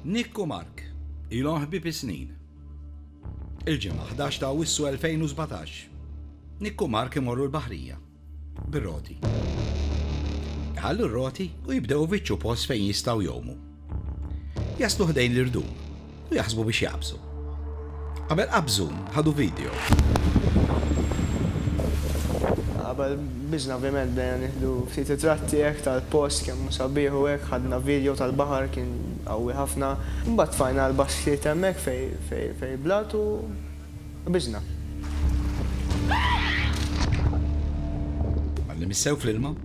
Nick u Mark ilhom ħbieb is-snin. Il-Ġimgħa ħdax ta' Awwissu 2017, Nick u Mark imorru l-baħrija bir-roti. Iħallu r-roti u jibdew ifittxu post fejn jistgħu jgħumu. Jaslu ħdejn l-irdum u jaħsbu biex jagħbsu. Qabel qabżu, ħadu video. Qabel biżna ovvjament bdejna nieħdu ftit ritratti hekk tal-post kemm hu sabiħ u hekk, ħadna video tal-baħar kien qawwi ħafna. Imbagħad tfajna għal basktijiet hemmhekk fejn fejn blat u biżna. Għadni missew fl-ilma,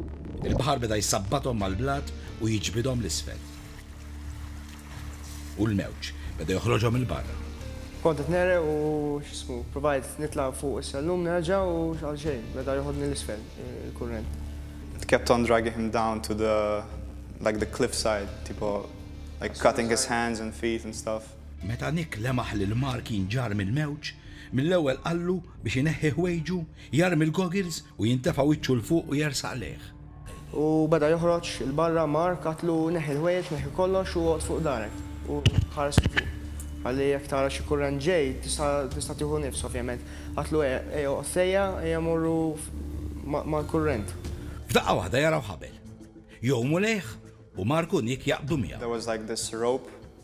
il-baħar beda jsabbathom mal-blat u jiġbidhom 'l isfel. U l-mewġ beda joħroġhom 'il barra. Kont qed negħreq u, x'ismu, provajt nitla' fuq is-sellum nerġa' u x'għalxejn, beda joħodni 'l isfel il-kurrent. It kept on dragging him down to the, like the cliff side, tipo, like cutting his hands and feet and stuff. Meta Nick lemaħ lil Mark jinġarr mill-mewġ, mill-ewwel qallu biex ineħħi ħwejġu, jarmi l-goggles u jintefa' wiċċu 'l fuq u jersaq lejh. U beda joħroġ 'il barra, Mark, għidtlu neħħi l-ħwejjeġ, neħħi kollox u oqgħod fuq darek u ħares 'il fuq. Ħalli jekk tara xi kurrent ġej, tista' tista' tieħu nifs, ovvjament. Għidtlu ejja, ejja oqgħod sejja, ejja mmorru ma' mal-kurrent. F'daqqa waħda jaraw ħabel. Jgħumu lejh u Mark u Nick jaqbdu miegħu. There was like this rope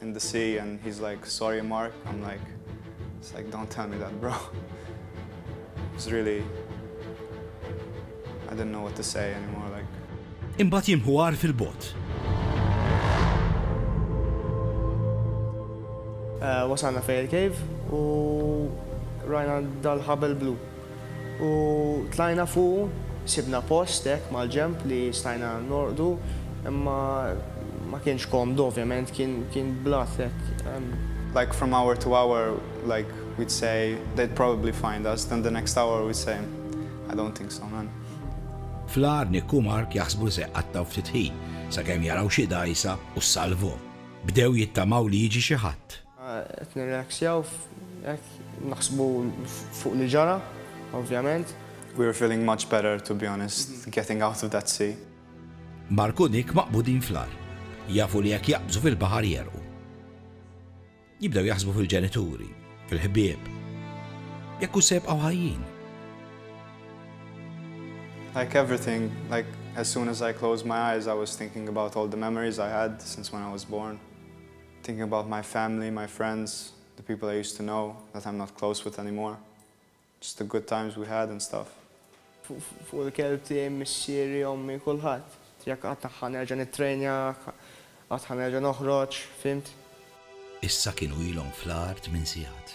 in the sea and he's like, sorry Mark, I'm like, it's like, don't tell me that bro. It's really, I didn't know what to say anymore, like. Imbat jimħu għar fil-bot. Uh, wasalna fej il-cave u rajna dal-ħabel blu. U tlajna fuqu, sibna post hekk mal-ġenb li stajna norqdu, imma ma kienx komdu ovvjament, kien blat hekk. Like from hour to hour like we'd say they'd probably find us, then the next hour we'd say I don't think so man. Fl-agħar Nick u Mark jaħsbu li se jqattgħu ftit ħin sakemm jaraw xi dgħajsa u ssalvhom. Bdew jittamaw li jiġi xi ħadd. Qed nirrelaxxjaw hekk naħsbu fuq li ġara ovvjament. We were feeling much better to be honest getting out of that sea. Mark u Nick maqbudin fl-agħar. Jafu li jekk jaqbżu fil-baħar jegħrqu. Jibdew jaħsbu fil-ġenituri, fil-ħbieb. Jekk hux se jibqgħu ħajjin. Like everything, like as soon as I closed my eyes I was thinking about all the memories I had since when I was born. Thinking about my family, my friends, the people I used to know that I'm not close with anymore. Just the good times we had and stuff. Fuq il-kelb tiegħi, missieri, ommi, kulħadd. Jekk qatt ħa nerġa' nittrejnja, qatt ħa nerġa' noħroġ, fhimt? Issa kienu ilhom fl-agħar tmien sigħat.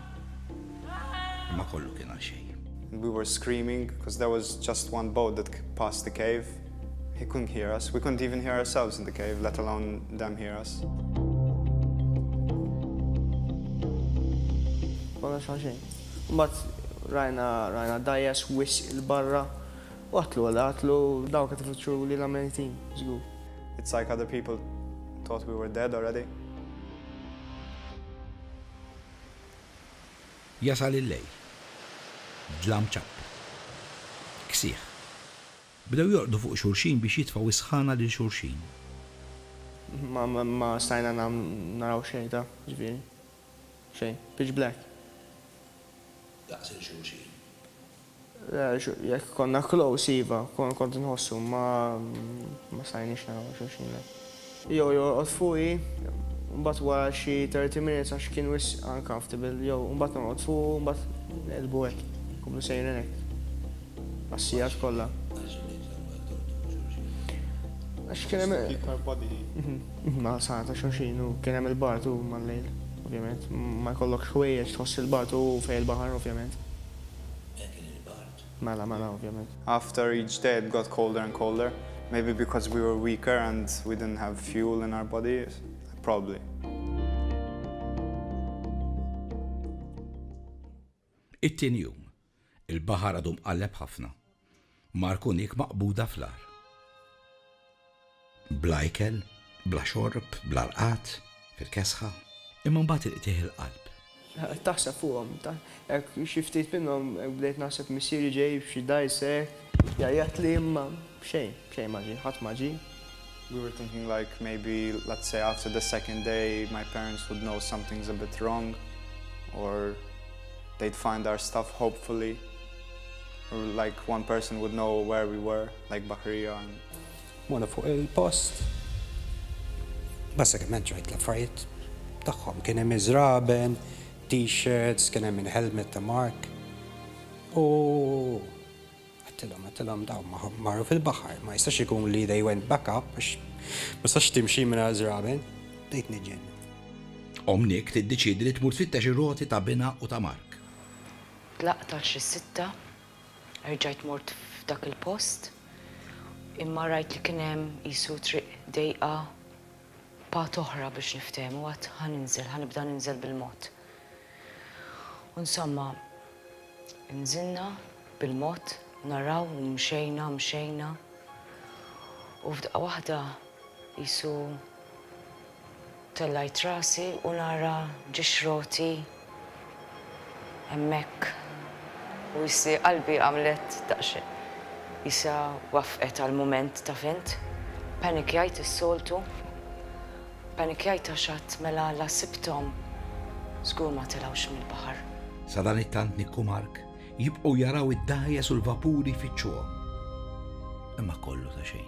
Imma kollu kien għal xejn. And we were screaming because there was just one boat that passed the cave. He couldn't hear us. We couldn't even hear ourselves in the cave, let alone them hear us. Konna xaxin. Mbatt rajna rajna dajes wis il-barra. Waħtlu għal għatlu daw kħet fitxu li la menitin, zgu. It's like other people thought we were dead already. Jasal il-lejl. Dlam ċappet. Ksieħ. Bdew jorqdu fuq xulxin biex jitfgħu s-sħana lil xulxin. Ma stajna naraw xejn ta' ġifieri. Xejn. Pitch black. Daqs il-xulxin. Jekk konna close iva, kont inħossu, imma ma stajniex naraw xulxin le. Jew jorqod fuqi, mbagħad wara xi thirty minutes għax kien wisq uncomfortable, jew mbagħad norqod fuqu u mbagħad neqilbu hekk, inkomplu sejrin hekk għas-sigħat kollha. Għax kien hemm iktar ma' torturi xulxin. Għax kien hemm. Kien iktar body heat. Ma' sara ta' xulxin u kien hemm il-bard u mal-lejl, ovvjament, ma jkollokx ħwejjeġ tħoss il-bard u fejn il-baħar, ovvjament. Hekk kien il-bard. Mela, mela, ovvjament. After each day it got colder and colder, maybe because we were weaker and we didn't have fuel in our body, probably. It-tieni jum, il-baħar għadu mqalleb ħafna. Mark u Nick maqbuda fl-agħar. Bla ikel, bla xorb, bla rqad, fil-kesħa. Imma mbagħad il-qtigħ il-qalb. Taħseb fuqhom. Hekk xi ftit minnhom hekk bdejt naħseb missieri ġej b'xi dgħajsa hekk. Jgħajjatli imma xejn, xejn ma ġie, ħadd ma ġie. We were thinking like maybe let's say after the second day my parents would know something's a bit wrong or they'd find our stuff hopefully or like one person would know where we were like Bakarija and Mona fuq il-post basikament ġrajt l-affarijiet tagħhom kien hemm iżraben, t-shirts, kien hemm il-helmet ta' Mark u Għedtilhom, għedtilhom dawn ma marru fil-baħar, ma jistax ikun li they went back up għax ma tistax timxi mingħajr żraben. Bdejt niġġenn. Omm Nick tiddeċiedi li tmur tfittex ir-roti ta' binha u ta' Mark. Tlaqt għal xi sitta, erġajt mort f'dak il-post, imma rajt li kien hemm qisu triq dejqa, Part oħra biex niftehmu għad ħa ninżel, ħa nibda ninżel bil-mod. U insomma, nżilna bil-mod, naraw u mxejna, mxejna. U f'daqqa waħda qisu tellajt rasi u nara ġixroti Hemmhekk u issi qalbi għamlet daqsxejn. Qisha waffqet għal mument taf int. Ppanikjajt is-soltu. Ppanikjajt għax għad mela la sibthom. Żgur ma telgħux mill-baħar. Sadanittant Nick u Mark jibqgħu jaraw id-dgħajjes u l-vapuri jfittxuhom. Imma kollu ta' xejn.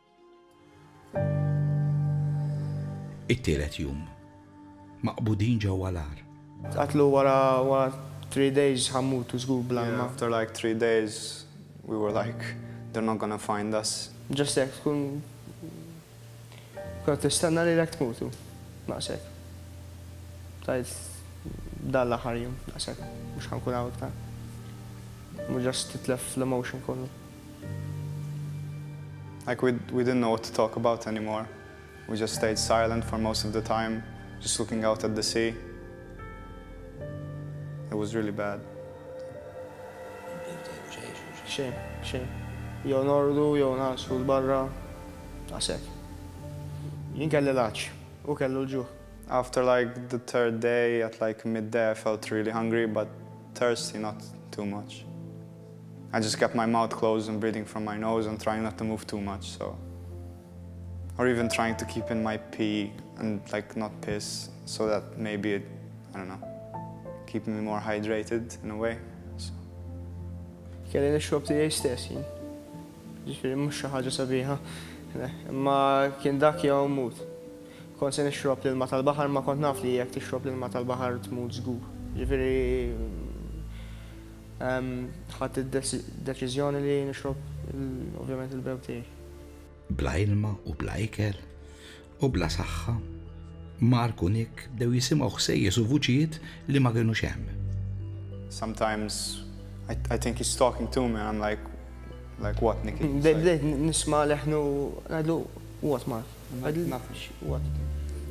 It-tielet jum. Maqbudin ġewwa l-għar. Tqatlu wara three days ħa mmutu żgur bla ilma. Yeah after like three days we were like they're not gonna find us. Just hekk tkun qed tistenna lilek tmutu. Naqsek. Tgħid dan l-aħħar jum naqsek mhux ħa nkun hawn iktar. Just titlef l-emotion kollu. Like we we didn't know what to talk about anymore. We just stayed silent for most of the time, just looking out at the sea. It was really bad. Xejn, xejn. Jew nordu, jew nasu l-barra. Għasek. Jien kelli laċ, u kellu l-ġuħ. After like the third day, at like midday, I felt really hungry, but thirsty not too much. I just kept my mouth closed and breathing from my nose and trying not to move too much so or even trying to keep in my pee and like not piss so that maybe it, I don't know keep me more hydrated in a way. Kelli nixrob tiegħi stess jien. Ġifieri mhux xi ħaġa sabiħa. Imma kien dak jew mut. Kont se nixrob l-ilma tal-baħar ma kont naf li jekk tixrob l-ilma tal-baħar tmut żgur. Ġifieri Ħadt id-deċiżjoni li nixrob ovvjament il-bew tiegħi. Bla ilma u bla ikel u bla saħħa, Mark u Nick bdew jisimgħu ħsejjes u vuċijiet li ma kinux hemm. Sometimes I, I think he's talking to me and I'm like, like what, Nicky? Bdejt nisma' leħnu ngħidlu what, Mark?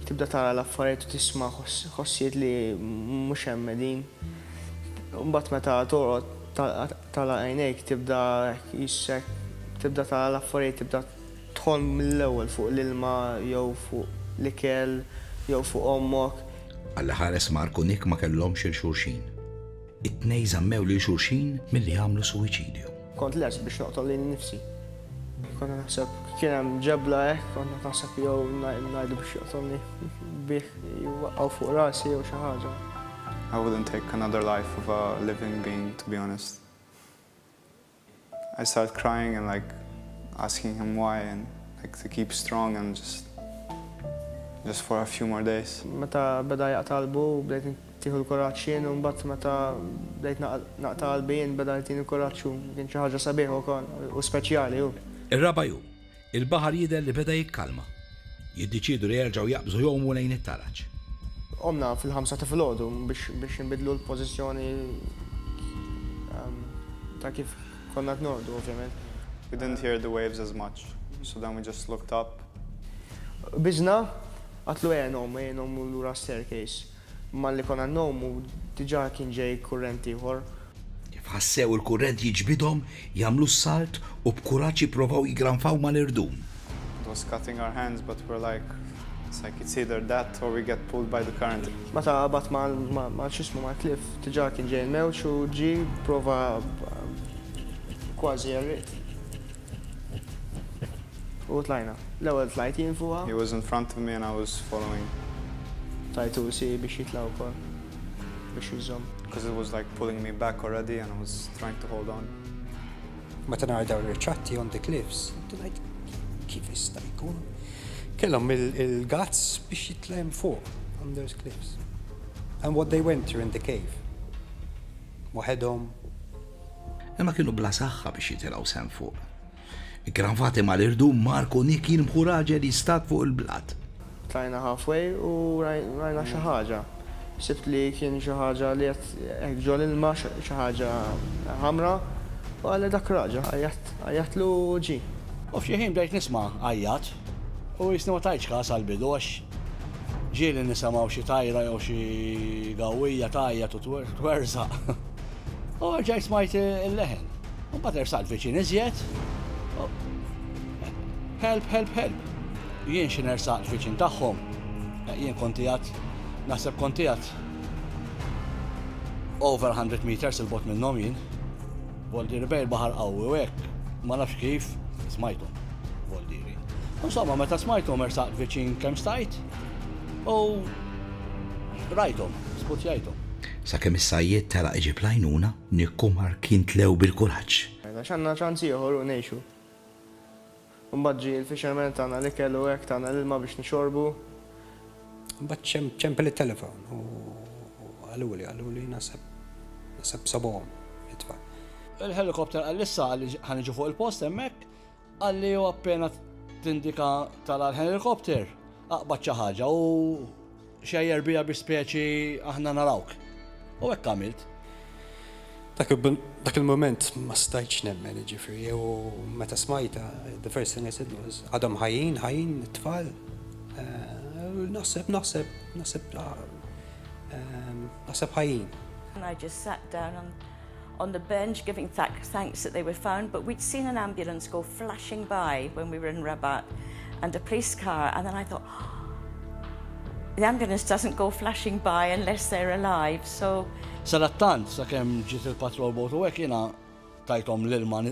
Tibda tara l-affarijiet u tisma' ħossijiet li mhux hemm qegħdin. Mbagħad meta torqod tagħlaq għajnejk tibda jissek, tibda tara l-affarijiet, tibda tħomm mill-ewwel fuq l-ilma jew fuq l-ikel jew fuq ommok. Alla ħares Mark u Nick ma kellhomx 'il xulxin. It-tnejn żammew lil xulxin milli jagħmlu suwiċidju. Kont lest biex noqtol lili nnifsi. Konna naħseb kien hemm ġebla hekk, konna naħseb jew ngħidu biex joqtolni bih jwaqgħu fuq rasi jew xi ħaġa. I wouldn't take another life of a living being to be honest. I start crying and like asking him why and like to keep strong and just just for a few more days. Meta beda jaqta' qalbu bdejt Tieħu l-kuraġġ jien u mbagħad meta bdejt naqta' qalbi jien beda jtini l-kuraġġ hu. Kien xi ħaġa sabiħa wkoll u speċjali hu. Ir-raba' jum, il-baħar jidher li beda jikkalma. Jiddeċiedu li jerġgħu jaqbżu jgħumu lejn it-taraġ. Qomna fil-ħamsa ta' filgħodu biex inbiddlu l-pożizzjoni ta' kif konna qed norqdu ovvjament. We didn't hear the waves as much so then we just looked up. Qbiżna, qatlu għenhom, għinhom lura s-staircase. Malli konna ngħomu, diġà kien ġej kurrent ieħor. F'ħassew il-kurrent jiġbidhom, jagħmlu s-salt u b'kuraġġ jipprovaw jiggranfaw mal-irdum. It was cutting our hands but we're like, it's like it's either that or we get pulled by the current. Meta qabad ma' x'ismu mal-cliff, diġà kien ġej il-mewġ u ġie, pprova kważi għerriqt. U tlajna. L-ewwel tlajt jien fuqha. He was in front of me and I was following. Tajtu siegħi biex jitla' wkoll, biex jiżżomm. Because it was like pulling me back already and I was trying to hold on. Meta nara dawn ir-riċatti on the cliffs, nibda ngħid, kif jista' jkun kellhom il-guts biex jitla' hemm fuq on those cliffs? And what they went through in the cave. waħedhom. Imma kienu bla saħħa biex jitilgħu s'hemm fuq. Ikkranvati mal-irdum, Mark u Nick jirbħu raġel jistad fuq il-blat. Tlajna halfway u rajna xi ħaġa. Ħsibt li kien xi ħaġa li qed hekk ġol-ilma, xi ħaġa ħamra, u għalli dak raġel. Għajjatlu u ġie. U f'xi ħin bdejt nisma' għajjat u qisni ma tajtx kas għall-bidu għax Ġieli nisemgħu xi tajra jew xi gawwija tgħajjat u twerżaq. U ġaj smajt il-leħen. U mbagħad ersaqt viċin iżjed. Help, help, help. Jien xi nersaqt viċin tagħhom. Eh, jien kontijat, naħseb kontijat over 100 meters il-bot minnhom jien. Voldieri bejn il-baħar qawwi u hekk, ma nafx kif, smajthom, Voldieri. Insomma, meta smajthom ersaqt viċin kemm stajt u rajthom, sputjajthom. Sakemm is-sajjied telaq iġib l-għajnuna, Nick u Mark jintlew bil-kuraġġ. Għax għandna ċans ieħor u ngħixu. Imbagħad ġie l-fisherman, tana l-ikel u hekk, tana l-ilma biex nixorbu. Imbagħad ċempel it-telefon u qaluli, qaluli naħseb, naħseb sabhom it-tfal. Il-helicopter qalli issa qalli ħa niġu fuq il-post hemmhekk, qalli u appena tindika tara l-helicopter, aqbad xi ħaġa u. Xejjer bija bi speċi aħna narawk. U hekk għamilt. Dak il-mument ma stajtx nemmen, jiġifieri, u meta smajtha, the first thing I said was, għadhom ħajjin, ħajjin it-tfal? Naħseb, naħseb, naħseb, naħseb ħajjin. Narġis saq dar. on the bench giving thanks that they were found, but we'd seen an ambulance go flashing by when we were in Rabat and a police car, and then I thought, the ambulance doesn't go flashing by unless they're alive, so... Sadattant, sa' kem ġiet il-patrol boat u għek jina tajtom l-ilma,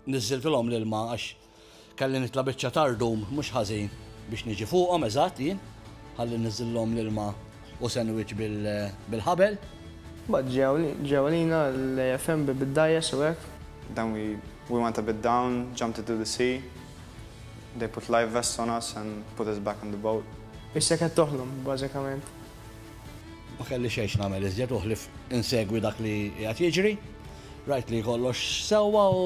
nizzilt l-om l-ilma għax Kelli nitla' biċċa ta' rdum mhux ħażin biex niġi fuqhom eżatt jien, ħalli niżżillhom l-ilma u sandwich bil-ħabel. Mbagħad ġew għalina l-AFM bi bid-dgħajjes u hekk. Then we we went a bit down, jumped into the sea. They put life vests on us and put us back on the boat. Issa qed toħlom, bażikament. Ma kelli xejn x'nagħmel iżjed u ħlief insegwi dak li qiegħed jiġri. Rajt li kollox sewwa u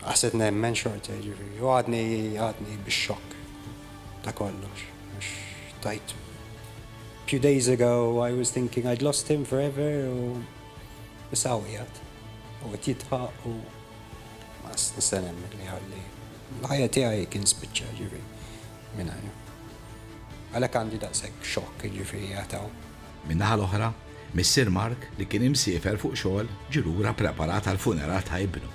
Għasset nemmen xorta jiġifieri u għadni għadni bix-xokk ta' kollox għax tajt few days ago I was thinking I'd lost him forever u issa għawjat u qed jidħaq u ma nista' nemmen li ħalli l-ħajja tiegħi kien spiċċa ġifieri mingħajr. Għalhekk għandi daqshekk xokk jiġifieri għataw. Min-naħa l-oħra, missier Mark li kien imsiefer fuq xogħol ġie lura preparat għall-funeral ta' ibnu.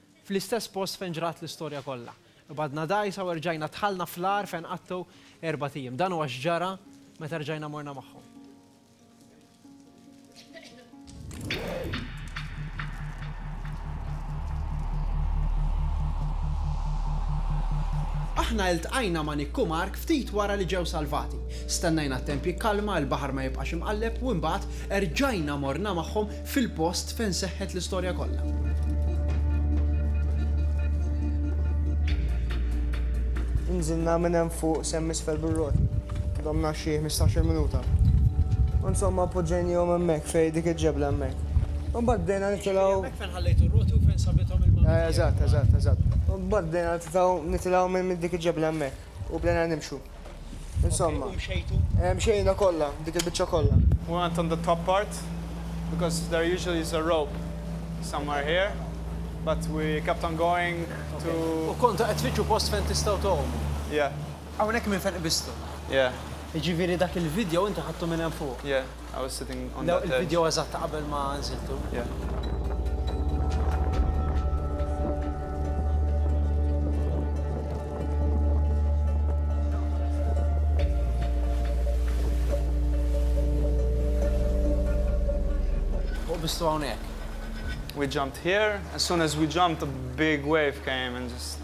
fl-istess post fejn ġrat l-istorja kollha. Qbadna dgħajsa u erġajna dħalna fl-għar fejn qatgħu erbat ijiem. Dan huwa x'ġara meta rġajna morna magħhom. Aħna iltqajna ma' Nick u Mark ftit wara li ġew salvati. Stennejna t-temp jikkalma, il-baħar ma jibqax imqalleb u imbagħad erġajna morna magħhom fil-post fejn seħħet l-istorja kollha. Inżilna minn hemm fuq semm isfel bir-roti. Domna xi ħmistax-il minuta. U nsomma poġġejnihom hemmhekk fejn dik il-ġebla hemmhekk. U mbagħad bdejna nitilgħu. Hemmhekk fejn ħallejtu r-roti u fejn sabithom il-mama tiegħek. Eżatt, eżatt, eżatt. U mbagħad bdejna nitilgħu nitilgħu minn dik il-ġebla hemmhekk u bdejna nimxu. Insomma. U mxejtu? Eh, mxejna kollha, dik il-biċċa kollha. We went on the top part because there usually is a rope somewhere here, but we kept on going to U kontu qed tfittxu post fejn tistgħu tgħumu? Yeah. Hawnhekk minn fejn qbiżtu? Yeah. Jiġifieri dak il-vidjow inti ħadtu minn hemm fuq? Yeah. Il-video eżatt ta' qabel ma nżiltu. Fuq bistu hawnhekk. We jumped here, as soon as we jumped a big wave came and just.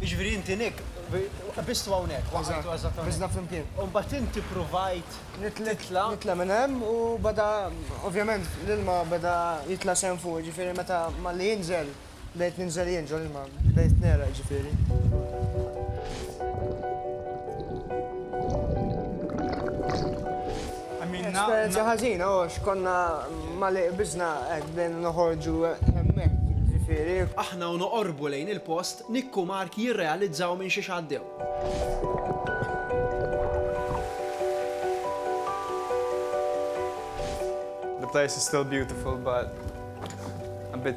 Jiġifieri inti Nick, qbiżtu hawnhekk, waqajtu eżatt hawnhekk. Qbiżna flimkien. U mbagħad inti ppruvajt titla'. Nitla' minn hemm u beda, ovvjament l-ilma beda jitla' sehem fuq, jiġifieri meta malli jinżel, bdejt ninżel jien ġol-ilma, bdejt negħraq jiġifieri. Esperjenza ħażina, u x'konna ma li qbiżna hekk bdejna noħorġu hemmhekk, jiġifieri. Aħna u noqorbu lejn il-post Nikku Mark jirrealizzaw minn xiex għaddew. The place is still beautiful but a bit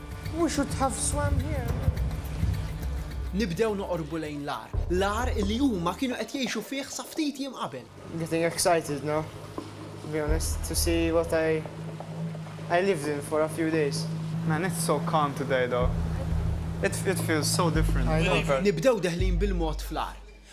We should have swam here. Nibdew noqorbu lejn l-agħar, l-agħar li huma kienu qed jgħixu fih sa ftit jiem qabel. I'm getting excited now, to be honest, to see what I I lived in for a few days. Man, it's so calm today though. It it feels so different. Nibdew deħlin bil-mod fl-agħar.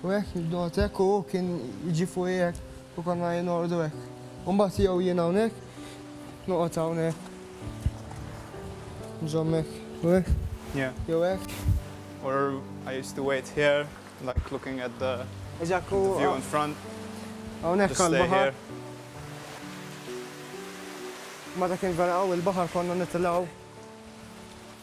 U hekk il-dot hekk u hu kien jiġi fuqi hekk u konna jien norqdu hekk. U mbagħad jew jien hawnhekk, noqgħod hawnhekk. Nżomm hekk u hekk. Yeah. Jew hekk. Or I used to wait here, like looking at the, the view in front. Hawnhekk għall-baħar. Ma dak kien vera hawn il-baħar konna nitilgħu.